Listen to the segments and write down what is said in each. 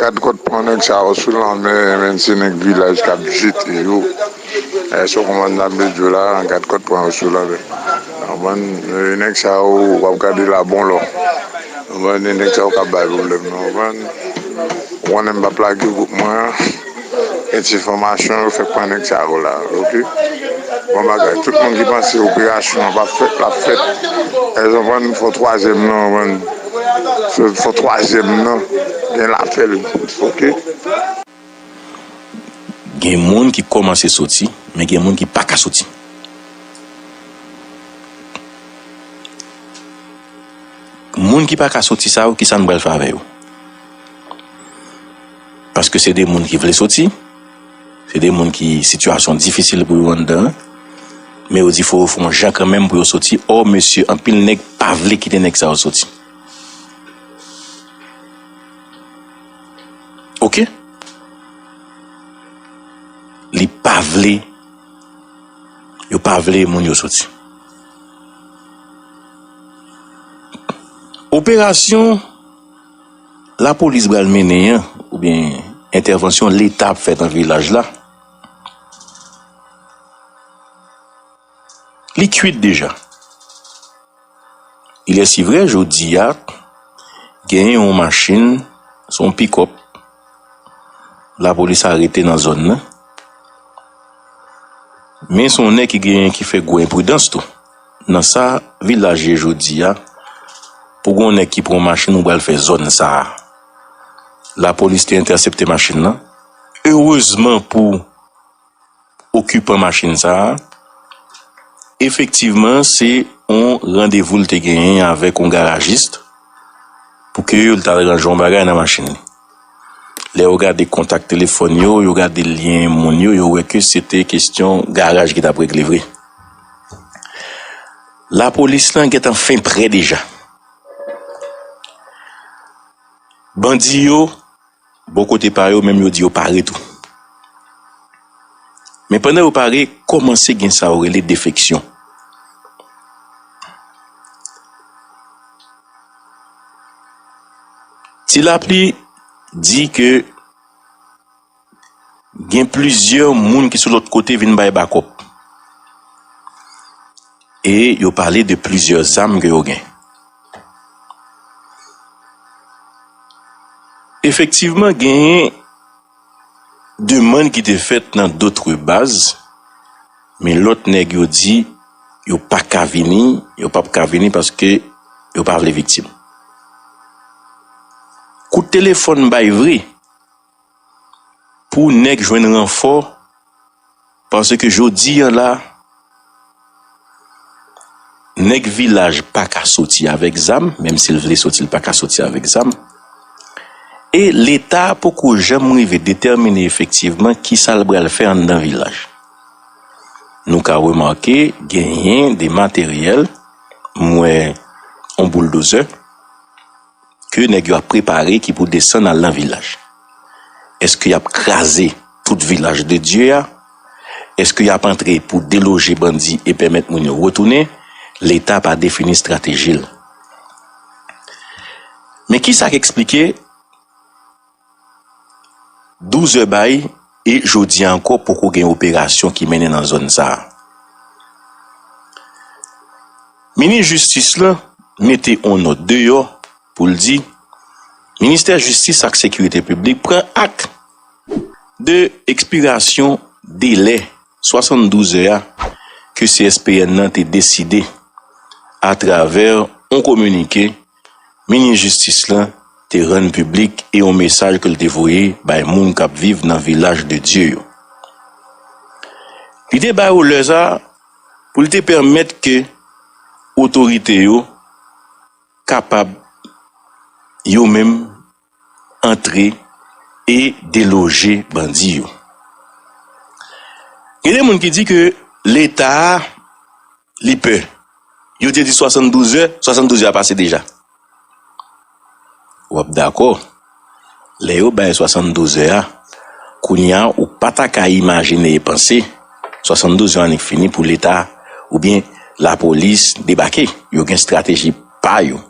Gad kot pran neg sa yo sou lanmè menm se neg vilaj kap jete yo e son koman nap met dlo la gad kot pran yo sou lanmè an bann neg sa yo wap gade la bon lò bann neg sa yo kap bay problèm nan bann ou konnen m pap lage gwoup mwen an. Etinfomasyon yo fè pran nèg sa yo la ok bon bagay tout moun ki panse operasyon an pap fèt lap fèt èske ou konprann fò twazyèm nan konprann se fò twazyèm nan gen lafèl ok. Gen moun ki komanse soti men gen moun ki paka soti. Moun ki paka soti sa yo kisa nou pral fè avè yo. Paske se de moun ki vle soti, se de moun ki sitiyasyon difisil pou yo anndan, men yo di fò yo fè yon jan kanmenm pou yo soti, ò mesye anpil nèg pa vle kite nèg sa yo soti. Ok? Li pa vle, yo pa vle moun yo soti. Operasyon. lapolis bal mennen an oubyen entèvansyon leta ap fè nan vilaj la li kwit deja ilèsivrè jodi a gen yon machin se yon pikòp lapolis arete nan zòn nan men se yon nèg ki gen ki fè gwo enpridans tou Nan sa vilaj ye jodi a pou gon nèg ki pran machin ou pral fè zòn sa la polis te entèsepte machin nan erezman pou okipan machin sa efektivman se yon randevou l te genyen avèk yon garajis pou ke yo l ta range yon bagay nan machin li. Lè yo gade kontak telefòn yo, yo gade lyen moun yo, yo wè ke se te kestyon garaj ki t ap regle vre. Lapolis lan gen tan fen prè deja. Bandi yo, bò kote pa yo menm yo di yo pare tou. Men pandan yo pare, kòmanse gen sa yo rele defeksyon. Ti Lapli di ke gen plizyè moun ki sou lòt kote vin bay bakòp. E yo pale de plizyè zam ke yo gen. Efektivman genyen. Demann ki te fèt nan d'autres bases men lòt nèg yo di yo pa ka vini, yo pap ka vini paske yo pa vle viktim. Kout telefòn m bay vre pou nèg jwenn ranfò. Paske jodi an la, nèg vilaj pa ka soti avèk zam, menm si l vle soti l pa ka soti avèk zam, e Leta poko janm rive detèmine efektivman ki sa l pral fè anndan vilaj. Nou ka remake genyen de materyèl, m wè yon bouldozè, ke nèg yo ap prepare ki pou desann al nan vilaj. Eske y ap kraze tout vilaj de Dye a? Eske y ap antre pou deloje bandi e pèmèt moun yo retounen? Leta pa defini estrateji l. Men kisa k eksplike? 12 zè bay e jodi a ankò poko gen operasyon ki mennen nan zòn sa a. Minis jistis la mete on nòt deyò pou l di Ministè jistis ak sekirite piblik pran ak de ekspirasyon delè 72 zè a ke CSPN nan te deside atravè on kominike Minis jistis la te rann piblik e yon mesaj ke l te voye bay moun k ap viv nan Vilaj de Dye yo. Li te ba yo lè sa a pou l te pèmèt ke otorite yo kapab yo menm. antre e deloje bandi yo. Gen de moun ki di ke leta a li pè. Yo te di 72 zè, 72 zè a pase deja. Ou ap dakò, lè yo bay 72 zè a, kounye a ou pa ta ka imajine e panse 72 zè annik fini pou leta oubyen lapolis debake. Yo gen estrateji pa yo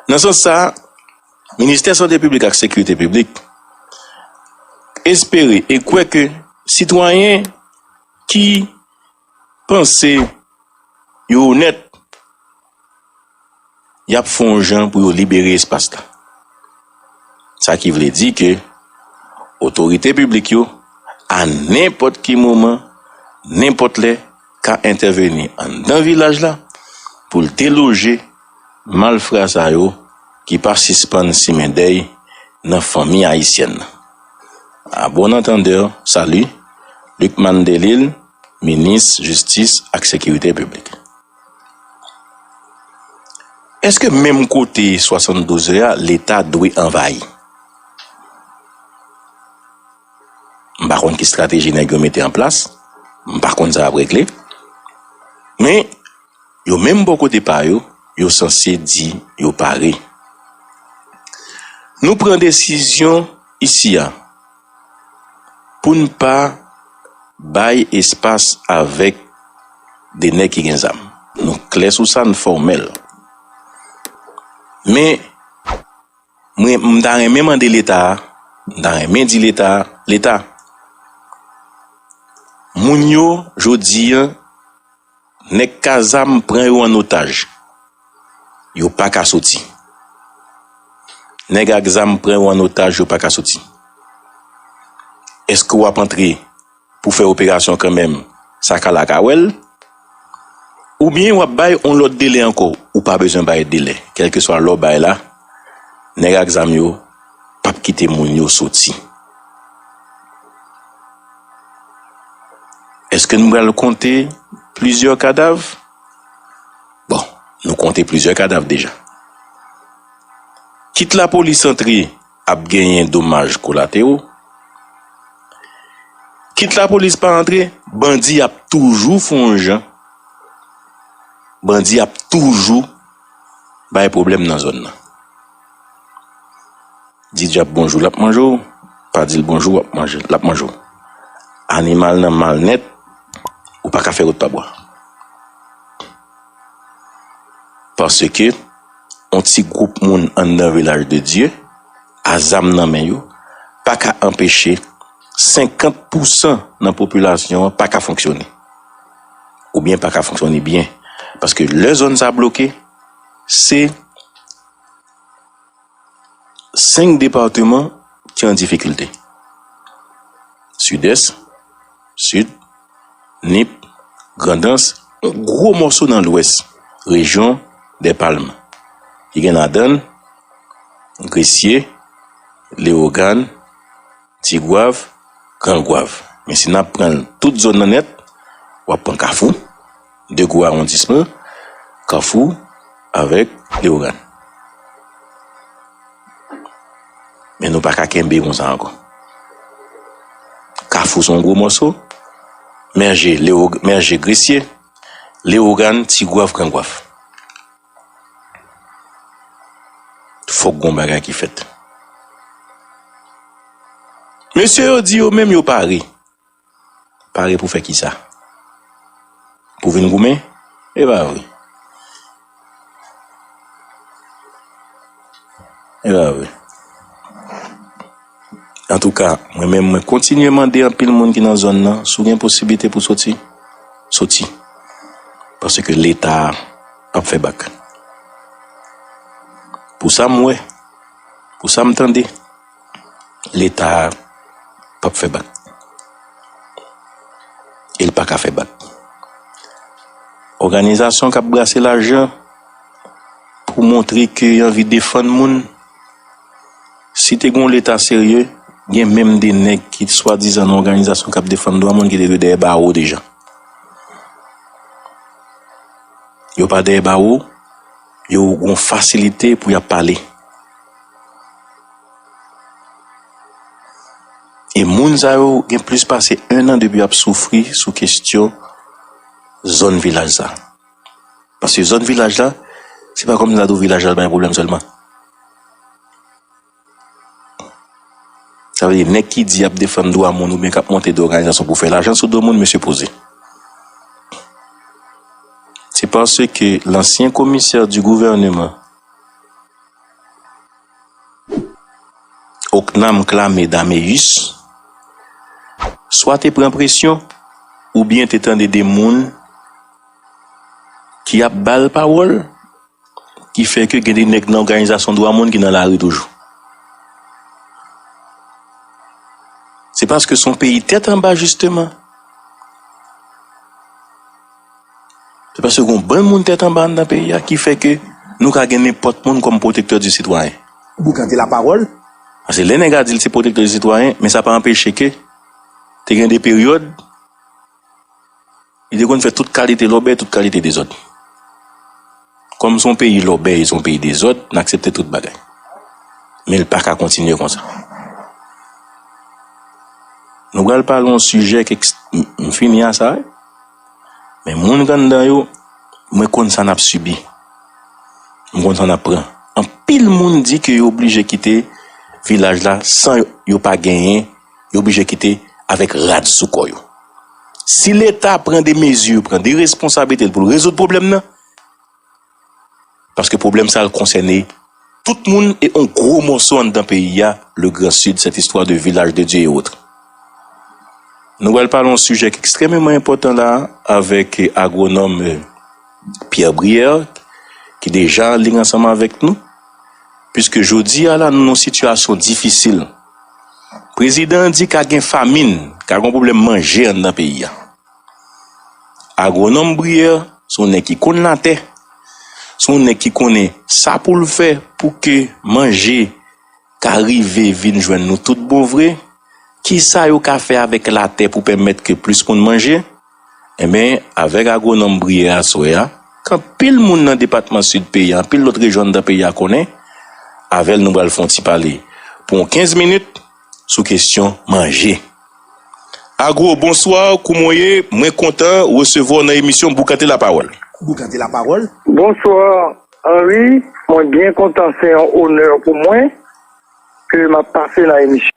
Nan sans sa, Ministè Sante Piblik ak Sekirite Piblik espere e kwè ke sitwayen ki panse yo onèt y ap fè yon jan pou yo libere espas la. Sa ki vle di ke otorite piblik yo a nenpòt ki moman, nenpòt lè, ka entèveni anndan vilaj la pou l deloje malfra sa yo ki pa sispann simen dèy nan fanmi ayisyèn nan. A bon antandè, salut, Lucmane Delille, Minis Jistis ak Sekirite Piblik. Èske menm kote 72 è a Leta dwe anvayi? M pa konn ki strateji nèg yo mete an plas, m pa konn sa ap regle. Men, yo menm bò kote pa yo, yo sanse di yo pare. Nou pran desizyon isi a pou n pa bay espas avèk de nèg ki gen zam. Nou klè sou sa, n fòmèl. Men. M ta renmen mande leta a, m ta renmen di leta a, leta moun yo jodi an nèg kazam pran yo an otaj yo pa ka soti nèg ak zam pran yo an otaj yo pa ka soti èske w ap antre pou fè operasyon kanmenm sa ka la ka wèl oubyen wap bay yon lòt delè ankò ou pa bezwen bay delè kèlkeswa lè w bay la nèg ak zam yo pap kite moun yo soti. Eske nou pral konte plizyè kadav? Bon nou konte plizyè kadav deja kit lapolis antre. Ap genyen domaj kolatero. Kit lapolis pa antre, bandi ap toujou fon yon jan. Bandi ap toujou bay pwoblèm nan zòn nan. Di dyab bonjou l ap manje w, pa di l bonjou w ap manje l, l ap manje w. Animal nan mal nèt, ou pa ka fè wout pa bwa. Paske, yon ti gwoup moun anndan vilaj de Dye, a zam nan men yo, pa ka anpeche 50 pousan nan popilasyon an pa ka fonksyone. Oubyen pa ka fonksyone byen. Paske lè zòn sa bloke, se. 5 departeman ki an difikilte, Sidès, Sid, Nip, Grandans, yon gwo mòso nan Lwès, rejyon dè Palm, ki gen ladan l, Gresye, Lewogàn, Ti gwav, gran gwav. Men si nap pran tout zòn nan nèt, wap pran kafou, 2 gwo awondisman, kafou avèk leogàn. Men nou paka kenbe konsa ankò. Kafou son gwo mòso, mèje, mèje gresye, leogàn, ti gwav, gran gwav. Fòk gon bagay ki fèt. Mesye yo di yo menm yo pare. Pare pou fè kisa? Pou vin goumen? E pa vre. E pa vre. Antouka, mwen menm mwen kontinye mande anpil moun ki nan zòn nan, si w gen posiblite pou w soti, soti. Paske Leta a ap fè bak. Pou sa m wè, pou sa m tande, Leta a p ap fè bak. E l pa ka fè bak. Òganizasyon k ap brase lajan pou montre ke y anvi defann moun. Si te gen yon leta serye, gen menm 2 nèg ki t swadizan nan òganizasyon kap defann dwa moun ki te dwe dèyè bawo deja. Yo pa dèyè bawo, yo gen yon fasilite pou yap pale. E moun sa yo gen plis pase 1 an depi yap soufri sou kestyon zòn vilaj sa. Paske zòn vilaj la, se pa kòmsi la tou vilaj la bay pwoblèm sèlman. Sa vle di nèg ki di yap defann dwa moun oubyen kap monte de òganizasyon pou fè lajan sou do moun mesye poze. Se paske lansyen komisè di gouvèneman Oknam Clamé Daméus swa te pran presyon oubyen te tande de moun ki ap ba l pawòl, ki fè ke gen de nèg nan òganizasyon dwa moun ki nan lari toujou. Se paske se yon peyi tèt anba jisteman. Se paske gen yon bann moun tèt anba anndan peyi a ki fè ke nou ka gen nenpòt moun kòm pwotektè di sitwayen. Boukan te lapawòl. Paske lè nèg a di l se pwotektè di sitwayen, men sa pa anpeche ke te gen de peryòd. Li te konn fè tout kalite lòbèy, tout kalite dezòd. Kòm se yon peyi lòbèy, se yon peyi dezòd, n aksepte tout bagay. Men li pa ka kontinye konsa. Nou pral pale yon sijè k eks... M fini a sa wi. Men moun ki anndan yo, mwen konn sa n ap sibi. M konn sa n ap pran. Anpil moun di ke yo oblije kite vilaj la san yo pa genyen. yo blije kite avèk rad sou kò yo. Si leta pran de mezi, pran de responsablite l pou l rezoud pwoblèm nan, paske pwoblèm sa l konsène tout moun e yon gwo mòso anndan peyi a, le grand sud, cette histoire de village de Dieu et autres. Nou pral pale yon sijè ki ekstrèmeman enpòtan la a avèk agwonòm Pierre Brière ki deja anliy ansanm avèk nou, piske jodi a la nou nan yon sitiyasyon difisil. Prezidan an di ka gen famin, ka gen pwoblèm manje anndan peyi a. Agwonòm Brière se yon nèg ki konn latè, se yon nèg ki konnen sa pou l fè pou ke manje ka rive vin jwenn nou tout bon vre, kisa yo ka fè avèk latè pou pèmèt ke plis moun manje. Enben, avèk agwonòm Brière aswè a, k anpil moun nan depatman Sid peyi a, anpil lòt rejyon anndan peyi a konnen, avè l nou pral fè yon ti pale pou yon 15 minit sou kesyon manje. Agwo, bonswa, kouman w ye? Mwen kontan resevwa w nan emisyon Boukante Lapawòl. Boukante Lapawòl. Bonswa, Henri, mwen byen kontan, se yon onè pou mwen ke m ap pase nan emisyon w.